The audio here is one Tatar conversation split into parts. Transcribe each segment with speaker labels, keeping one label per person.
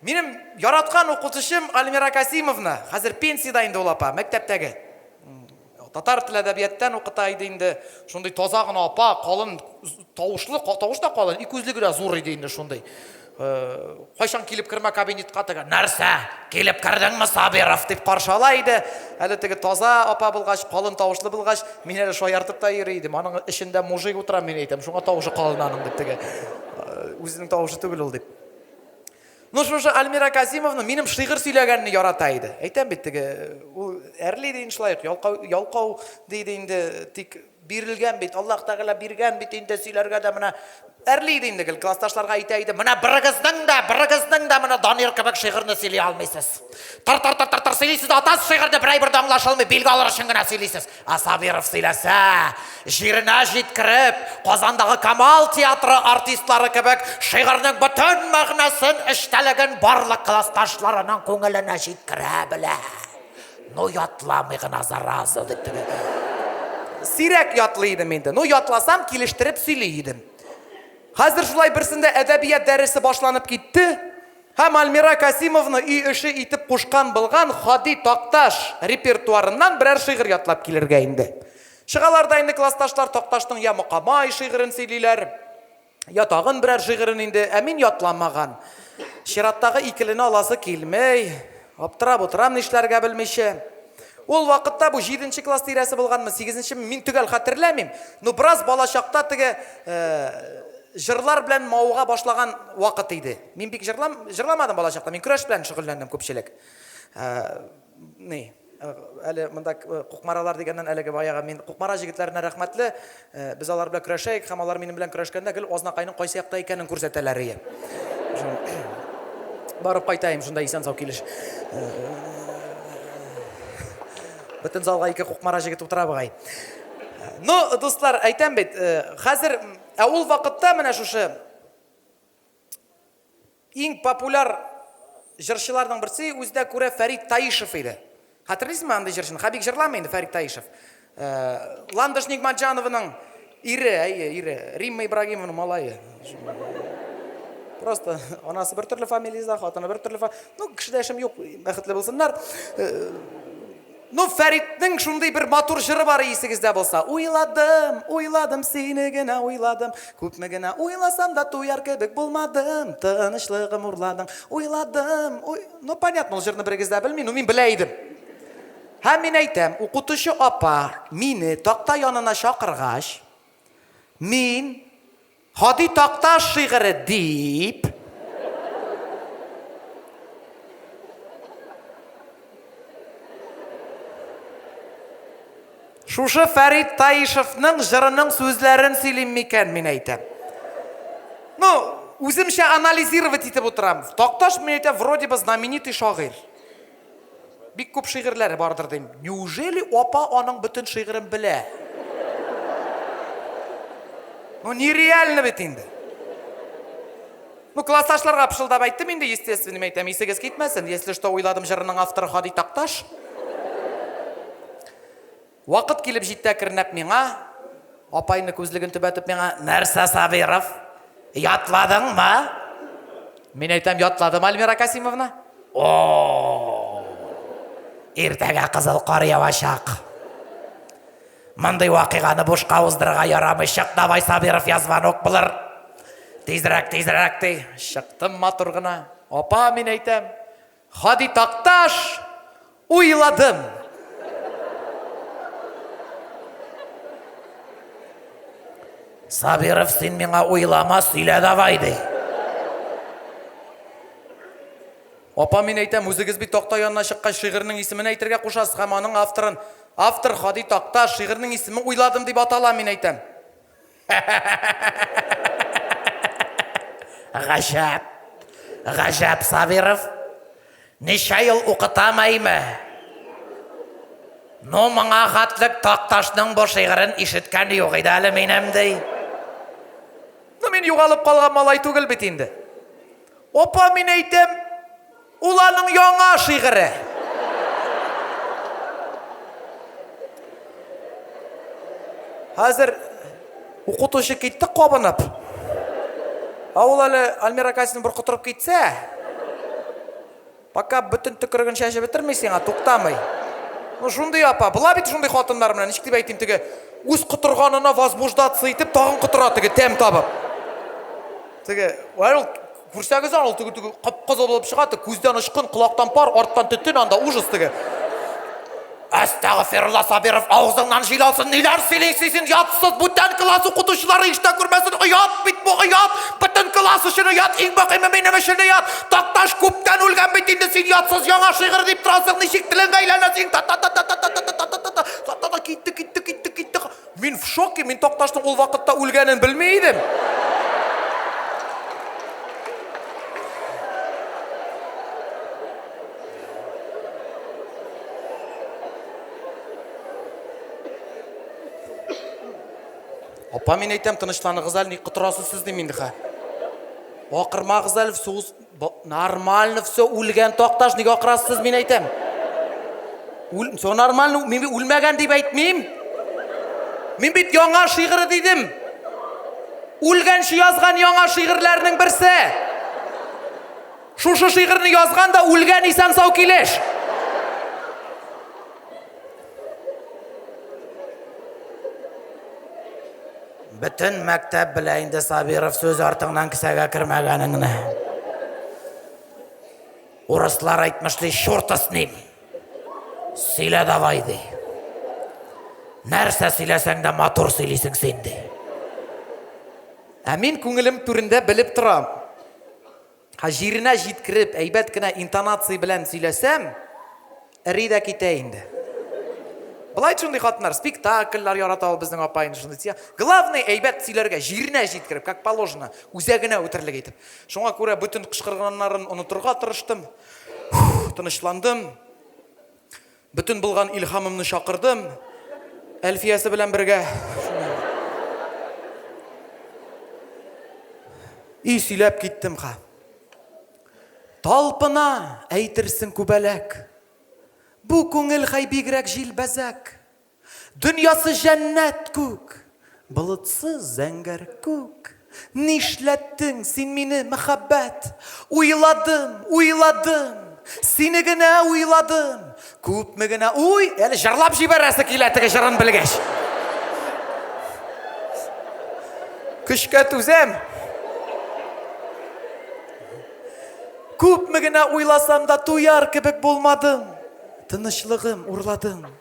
Speaker 1: Минем яраткан укытучым Альмира Касимовна, хәзер пенсиядә инде ул апа, мәктәптәге. Татар тел әдәбияттан укыта иде инде. Шундый таза гына апа, калын тавышлы, тавыш та калын, ике үзлеге дә зур иде инде шундый. Э, кайчан килеп кермә кабинетка теге, нәрсә, килеп кердеңме, Сабиров, дип каршы ала иде. Әле теге таза апа булгач, калын тавышлы булгач, мин әле шаяртып та йөри идем. Аның эчендә мужик утыра, мин әйтәм, шуңа тавышы калын аның дип теге. Э, үзенең тавышы түгел ул дип. Ну шушы Альмира Казимовна минем шигырь сөйләгәнне ярата иде. Әйтәм бит теге ул әрли иде иншлаек, ялкау ялкау диде инде, тик бирелгән бит, Аллаһ Тәгалә биргән бит инде сөйләргә дә менә әрли иде инде гел классташларга әйтә иде, менә берегезнең дә, берегезнең дә менә Данир кебек шигырьне сөйли алмыйсыз. Тар тар тар тар тар сөйлисез, атасыз шигырьне берәй бер дә аңлашылмый, билге алыр өчен генә сөйлисез. Асадиров сөйләсә, җиренә җиткереп, Казандагы Камал театры артистлары кебек шигырьнең бөтен мәгънәсен, эчтәлеген барлык классташларының күңеленә җиткерә белә. Ну, ятламый гына, зараза, дип тегелгә. Сирәк ятлый идем инде. Ну, ятласам, килештереп сөйли идем. Хәзер шулай берсендә әдәбият дәресе башланып китте. Һәм Альмира Касимовны өй эше итеп кушкан былган Һади Такташ репертуарыннан берәр шигырь ятлап килергә инде. Чыгалар да инде классташлар Такташның я Мокамай шигырен сөйлиләр, я тагын берәр шигырен инде, ә мин ятламаган. Чираттагы икелене аласы килмей. Аптырап утырам нишләргә белмичә. Ул вакытта бу җиденче класс тирәсе булганмы, сигезенчеме, мин төгәл хәтерләмим, но бераз балачакта теге җырлар белән мавыга башлаган вакыт иде. Мин бик җырлам, җырламадым балачакта, мин көрәш белән шөгыльләндем күпчелек. Ә, ни, әле монда кукмаралар дигәннән әлеге баягы мин кукмара җегетләренә рәхмәтле, без алар белән көрәшәек һәм алар минем белән көрәшкәндә гел Азнакайның кайсы якта икәнен күрсәтәләр ие. Барып кайтаем шунда исән-сау килеш. Бөтен залга ике кукмара җегет утыра бугай. Ну, дуслар, әйтәм бит, хәзер, ә ул вакытта менә шушы Иң популяр җырчыларның берсе үзенә күрә Фәрит Таишев иде. Хәтерлисезме андый җырчыны? Хәбик җырламый инде Фәрит Таишев. Ландыш Нигматҗанованың ире, әйе, ире, Римма Ибрагимованың малае. Просто анасы бер төрле фамилиядә, хатыны бер төрле. Ну, кешедә эшем юк, бәхетле булсыннар. Ну Фәритнең шундый бер матур җыры бар исегездә булса, Уйладым, уйладым, сине генә уйладым, Күпме генә уйласам да туяр кебек булмадым, Тынычлыгым урладың, уйладым, уй... Ну понятно, ул җырны берегез дә белми, ну мин белә идем. Һәм мин әйтәм, укытучы апа мине такта янына чакыргач, мин, Һади Такташ шигыре дип. Шушы Фәрит Таишевның җырының сүзләрен сөйлим микән, мин әйтәм. Ну, үземчә анализировать итеп утырам. Такташ, мин әйтәм, вроде бы знаменитый шагыйрь. Бик күп шигырьләре бардыр дим. Неужели апа аның бөтен шигырен белә? Ну, нереально бит инде. Ну, классташларга пышылдап әйттем инде, естественныйм әйтәм, исегез китмәсен. Если что, уйладым җырының авторы Һади Такташ. Вакыт килеп җитте әкренләп миңа, апайны күзлеген төбәтеп миңа, Нәрсә, Сабиров, ятладыңмы? Мин әйтәм, Ятладым, Альмира Касимовна. О-о-о! Иртәгә кызыл кар явачак. Мондый вакыйганы бушка уздырырга ярамый. Чык давай, Сабиров, я звонок булыр. Тизрәк, тизрәк, ди. Чыктым матур гына. Апа, мин әйтәм. Һади Такташ, уйладым! Сабиров, син миңа уйлама, сөйлә давай, ди. Апа, мин әйтәм, үзегез бит такта янына чыккач шигырьнең исемен әйтергә кушасыз һәм аның авторын. Автор Һади Такташ, шигырьнең исеме Уйладым дип атала, мин әйтәм. Гаҗәп. Гаҗәп Сабиров. Ничә ел укытам әйме? Ну, моңа хатлык Такташның бу шигырен ишеткән юк иде әле минем ди. Ну, мин югалып калган малай түгел бит инде. Опа, мин әйтәм, Ул аның яңа шигыре. Хәзер укытучы китте кабынып. Ә ул әле Альмира Касин бер котырып китсә, пока бөтен төкереген чәчеп бетерми сиңа, туктамый. Ну, шундый апа, була бит шундый хатыннар менә, ничек дип әйтим теге, үз котырганына возбуждаться итеп, тагын котыра теге тәм табып. Теге, ул Күрсәгез аны, ул теге теге кып-кызыл булып чыга, теге күздән очкын, колактан пар, арттан төтен анда ужас теге. Әстәгфирулла Сабиров, авызыңнан җил алсын, ниләр сөйлисең син, ятсыз, бүтән класс укытучылары иштә күрмәсен, оят бит бу, оят, бөтен класс өчен оят, иң мөһиме минем өчен оят, Такташ күптән үлгән бит инде, син ятсыз яңа шигырь дип торасың, ничек телеңә әйләнә синең, та-та-та-та, китте, китте, китте, китте, Мин в шоке, мин Такташның ул вакытта үлгәнен белми идем. Апа, мин әйтәм, тынычланыгыз әле, ни котырасыз сез дим инде хә. Акырмагыз әле, сугыз Нормально все, үлгән такташ, ник акырасыз, мин әйтәм. Үл, все нормально, мин үлмәгән дип әйтмим. Мин бит яңа шигыры дидем. Үлгәнче язган яңа шигырьләрнең берсе. Шушы шигырьне язган да үлгән исән сау килеш. Бөтен мәктәп белә инде Сабиров сүз артыңнан кесәгә кермәгәнеңне. Урыслар әйтмеш ди, шурта с ним. Сөйлә давай ди. Нәрсә сөйләсәң дә матур сөйлисең син ди. Ә мин күңелем түрендә белеп торам. Ха җиренә җиткереп, әйбәт кенә интонация белән сөйләсәм, эри дә китә инде. Былай шундый хатыннар, спектакльләр ярата ул безнең апа инде шундый тия. Главный әйбәт сөйләргә, җиренә җиткереп, как положено, үзәгенә үтерлек итеп. Шуңа күрә бөтен кычкырганнарын онытырга тырыштым. Тынычландым. Бөтен булган илһамымны чакырдым, Әлфиясе белән бергә. И сөйләп киттем ха. Талпына, әйтерсең күбәләк. Бу күңел хәй бигрәк җилбәзәк. Дөньясы җәннәт күк, болытсыз зәңгәр күк. Нишләттең син мине, мәхәббәт? Уйладым, уйладым, сине генә уйладым. Күпме генә уй, әле җырлап җибәрәсе килә теге җырын белгәч. Көчкә түзәм. Күпме генә уйласам да туяр кебек булмадым. Тынычлыгым урладым.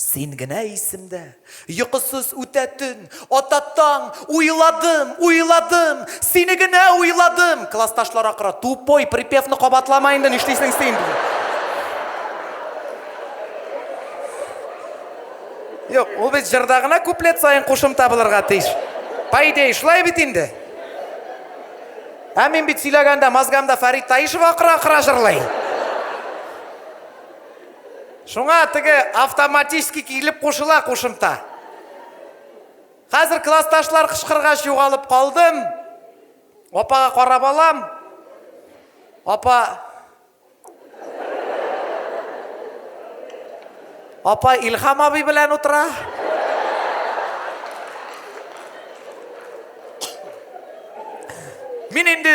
Speaker 1: Син генә исемдә, йокысыз үтә төн, ата таң, уйладым, уйладым, сине генә уйладым. Классташлар акыра, тупой, припевны кабатлама инде, нишлисең син? Юк, ул бит җырда гына куплет саен кушымта булырга тиеш. По идее, шулай бит инде. Ә мин бит сөйләгәндә мозгамда Фәрит Таишев акыра-акыра җырлый. Шуңа теге автоматически килеп кушыла кушымта. Хәзер классташлар кычкыргач югалып калдым. Апага карап алам. Апа Апа Илхам абый белән утыра. Мин инде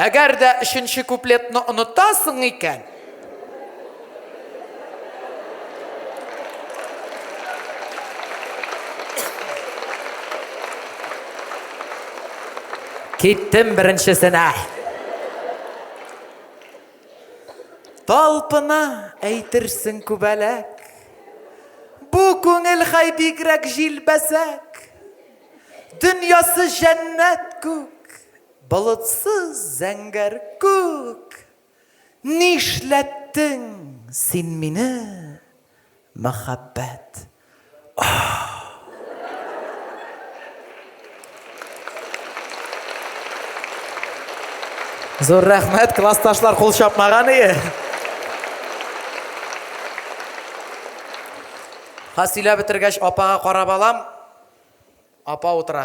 Speaker 1: Әгәр дә өченче куплетны онытасың икән, Киттем беренчесенә. Талпына әйтерсең күбәләк. Бу күңел хай бигрәк җилбәзәк. Дөньясы җәннәт күк. Болытсыз зәңгәр күк, Нишләттең син мине, мәхәббәт, ах! Зур рәхмәт, классташлар кул чапмаган ие. Ха сөйләп бетергәч, апага карап алам. Апа утыра.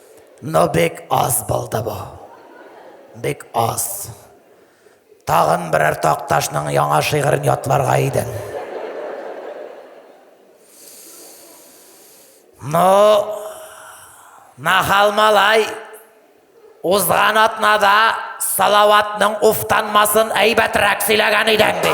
Speaker 1: Ну бик аз булды бу. Бик аз. Тагын берәр Такташның яңа шигырен ятларга идең. Ну, нахал малай, узган атнада Салаватның уфтанмасын әйбәтрәк сөйләгән идең ди.